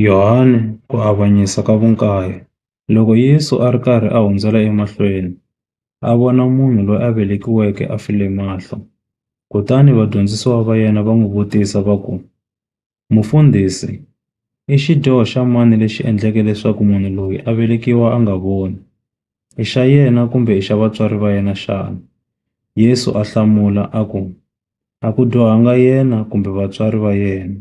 Yohane, Ku Avanyisa ka Vukaye, Loko Yesu a ri karhi a hundzela emahlweni, a vona munhu loyi a velekiweke a file mahlo. Kutani vadyondzisiwa va yena va n'wi vutisa va ku, Mufundhisi, i xidyoho xa mani lexi endleke leswaku munhu loyi a velekiwa a nga voni? I xa yena kumbe i xa vatswari va yena xana? Yesu a hlamula a ku, A ku dyohanga yena kumbe vatswari va yena.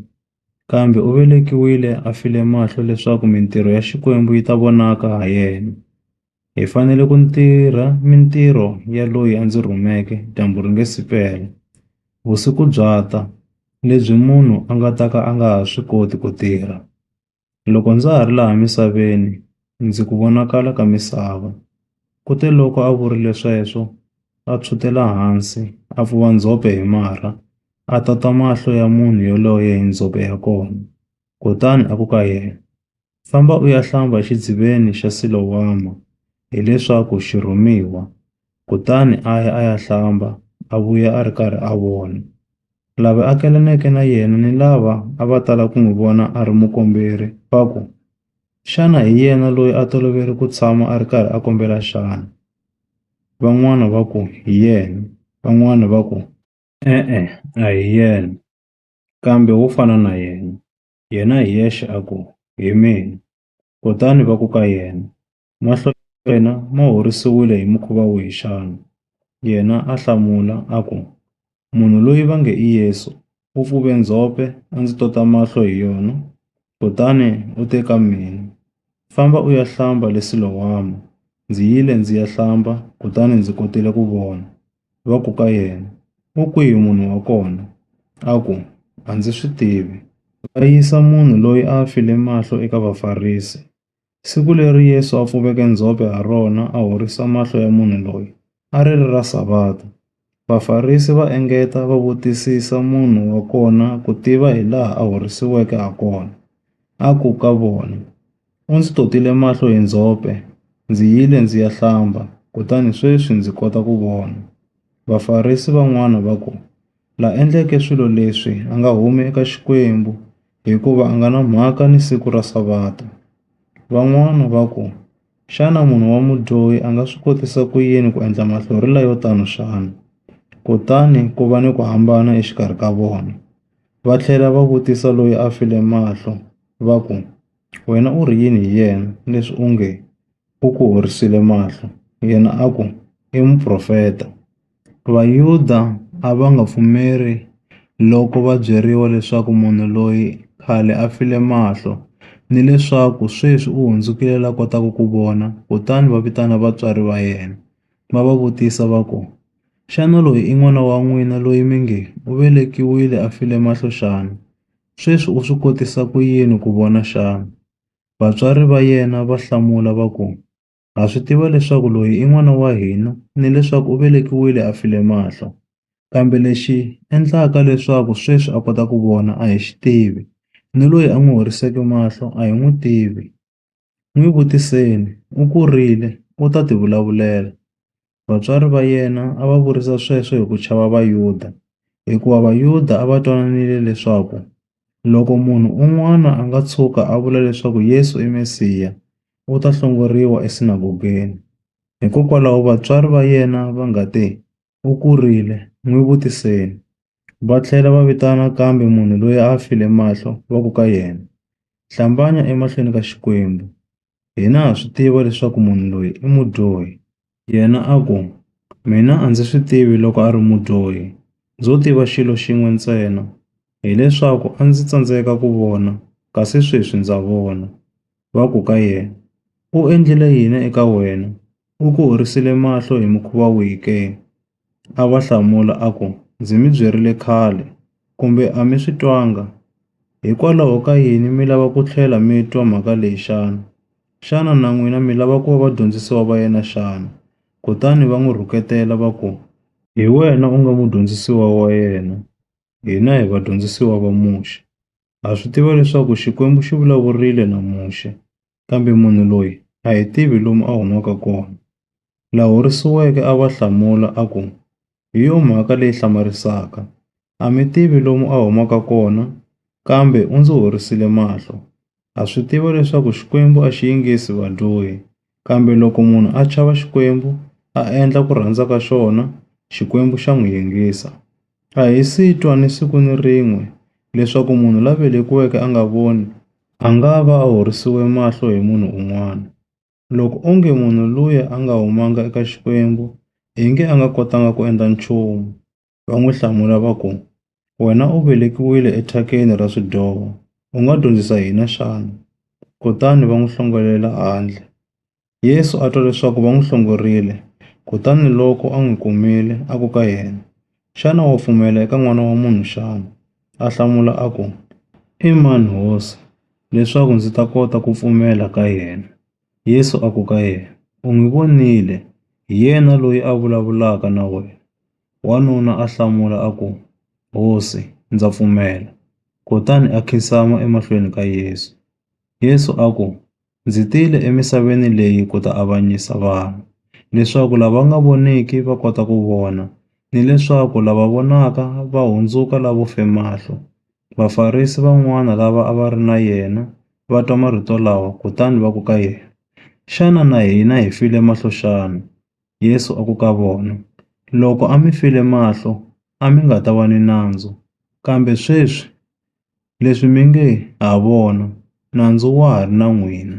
kambe u velekiwile a file mahlo leswaku mintirho ya Xikwembu yi ta vonaka ha yena. Hi fanele ku tirha mintirho ya loyi a ndzi rhumeke dyambu ri nga si pela. Vusiku bya ta, lebyi munhu a nga ta ka a nga ha swi koti ku tirha. Loko ndza ha ri laha misaveni, ndzi ku vonakala ka misava. Kuteloko a vurile sweswo, a tshwutela hansi, a pfuva ndzhope hi marha, a tota mahlo ya munhu yoloye hi ndzhope ya kona, kutani a ku ka yena, Famba u ya hlamba exidziveni xa Silowama, hileswaku xirhumiwa. Kutani a ya a ya hlamba, a vuya a ri karhi a vona. Lava akelaneke na yena ni lava a va tala ku n'wi vona a ri mukomberi va ku, Xana hi yena loyi a tolovele ku tshama a ri karhi a kombela xana? Van'wana va ku, Hi yena. Van'wana va ku, E-e, a hi yena. Kambe wo fana na yena, yena hi yexe a ku, Hi mina. Kutani va ku ka yena, Mahlo ya wena ma horisiwile hi mukhuva wihi xana? Yena a hlamula, a ku, Munhu loyi va nge i Yesu u pfuve ndzhope a ndzi tota mahlo hi yona, kutani u te ka mina, Famba u ya hlamba le Silowama. Ndzi yile ndzi ya hlamba, kutani ndzi kotile ku vona. Va ku ka yena, U kwihi munhu wa kona? A ku, A ndzi swi tivi. Va yisa munhu loyi a a file mahlo eka Vafarisi. Siku leri Yesu a pfuveke ndzhope ha rona a horisa mahlo ya munhu loyi, a ri ri ra Savata. Vafarisi va engeta va vutisisa munhu wa kona ku tiva hilaha a horisiweke hakona. A ku ka vona, U ndzi totile mahlo hi ndzhope. Ndzi yile ndzi ya hlamba, kutani sweswi ndzi kota ku vona. Vafarisi van'wana va ku, La endleke swilo leswi a nga humi eka Xikwembu, hikuva a nga na mhaka ni siku ra Savata. Van'wana va ku, Xana munhu wa mudyohi a nga swi kotisa ku yini ku endla mahlorhela yo tano xana? Kutani ku va ni ku hambana exikarhi ka vona. Va tlhela va vutisa loyi a file mahlo, va ku, Wena u ri yini hi yena leswi u nge u ku horisile mahlo? Yena a ku, I muprofeta. Vayuda a va nga pfumeli loko va byeriwa leswaku munhu loyi khale a file mahlo ni leswaku sweswi u hundzukile la kotaka ku vona, kutani va vitana vatswari va yena, va va vutisa va ku, Xana loyi i n'wana wa n'wina loyi mi nge, U velekiwile a file mahlo xana? Sweswi u swi kotisa ku yini ku vona xana? Vatswari va yena va hlamula va ku, Ha swi tiva leswaku loyi i n'wana wa hina ni leswaku u velekiwile a file mahlo. Kambe lexi endlaka leswaku sweswi a kota ku vona a hi xi tivi, ni loyi a n'wi horiseke mahlo a hi n'wi tivi. N'wi vutiseni, u kurile, u ta tivulavulela. Vatswari va yena a va vurisa sweswo hi ku chava Vayuda, hikuva Vayuda a va twananile leswaku loko munhu un'wana a nga tshuka a vula leswaku Yesu i Mesiya, u ta hlongoriwa esinagogeni. Hikokwalaho vatswari va yena va nga te, U kurile. N'wi vutiseni. Va tlhela va vitana nakambe munhu loyi a a file mahlo va ku ka yena, Hlambanya emahlweni ka Xikwembu. Hina ha swi tiva leswaku munhu loyi i mudyohi. Yena a ku, Mina a ndzi swi tivi loko a ri mudyohi. Ndzo tiva xilo xin'we ntsena, hileswaku a ndzi tsandzeka ku vona kasi sweswi ndza vona. va ku ka yena, U endlile yini eka wena? U ku horisile mahlo hi mukhuva wihi ke? A va hlamula a ku, Ndzi mi byerile khale, kumbe a mi swi twanga? Hikwalaho ka yini mi lava ku tlhela mi twa mhaka leyi xana? Xana na n'wina mi lava ku va vadyondzisiwa va yena xana? Kutani va n'wi rhuketela va ku, Hi wena u nga mudyondzisiwa wa yena, hina hi vadyondzisiwa va Muxe. Ha swi tiva leswaku Xikwembu xi vulavurile na Muxe, kambe munhu loyi a hi tivi lomu a humaka kona. La horisiweke a va hlamula a ku, Hi yo mhaka leyi hlamarisaka. A mi tivi lomu a humaka kona, kambe u ndzi horisile mahlo. Ha swi tiva leswaku Xikwembu a xi yingisi vadyohi, Kambe loko munhu a chava Xikwembu, a endla ku rhandza ka xona, Xikwembu xa n'wi yingisa. A hi si twa ni siku ni rin'we leswaku munhu la velekiweke a nga voni, a nga va a horisiwe mahlo hi munhu un'wana. Loko onge munhu luya a nga humanga eka Xikwembu, ingi a nga kotanga ku endla nchumu. va n'wi hlamula va ku, Wena u velekiwile ethakeni ra swidyoho, u nga dyondzisa hina xana? Kutani va n'wi hlongolela handle. Yesu a twa leswaku va n'wi hlongorile, kutani loko a n'wi kumile, a ku ka yena, Xana wa pfumela eka N'wana wa munhu xana? A hlamula a ku, I mani Hosi, leswaku ndzi ta kota ku pfumela ka yena? Yesu a ku ka yena, U n'wi vonile, hi yena loyi a vulavulaka na wena. Wanuna a hlamula a ku, Hosi, ndza pfumela. Kutani a khinsama emahlweni ka Yesu. Yesu a ku, Ndzi tile emisaveni leyi ku ta avanyisa vanhu, leswaku lava nga voniki va kota ku vona, ni leswaku lava vonaka va hundzuka lavo fe mahlo. Vafarisi van'wana lava a va ri na yena va twa marito lawa kutani va ku ka yena, Xana na hina hi file mahlo xana? Yesu a ku ka vona, Loko a mi file mahlo, a mi nga ta va ni nandzu, kambe sweswi leswi mi nge ha vona, nandzu wa ha ri na n'wina.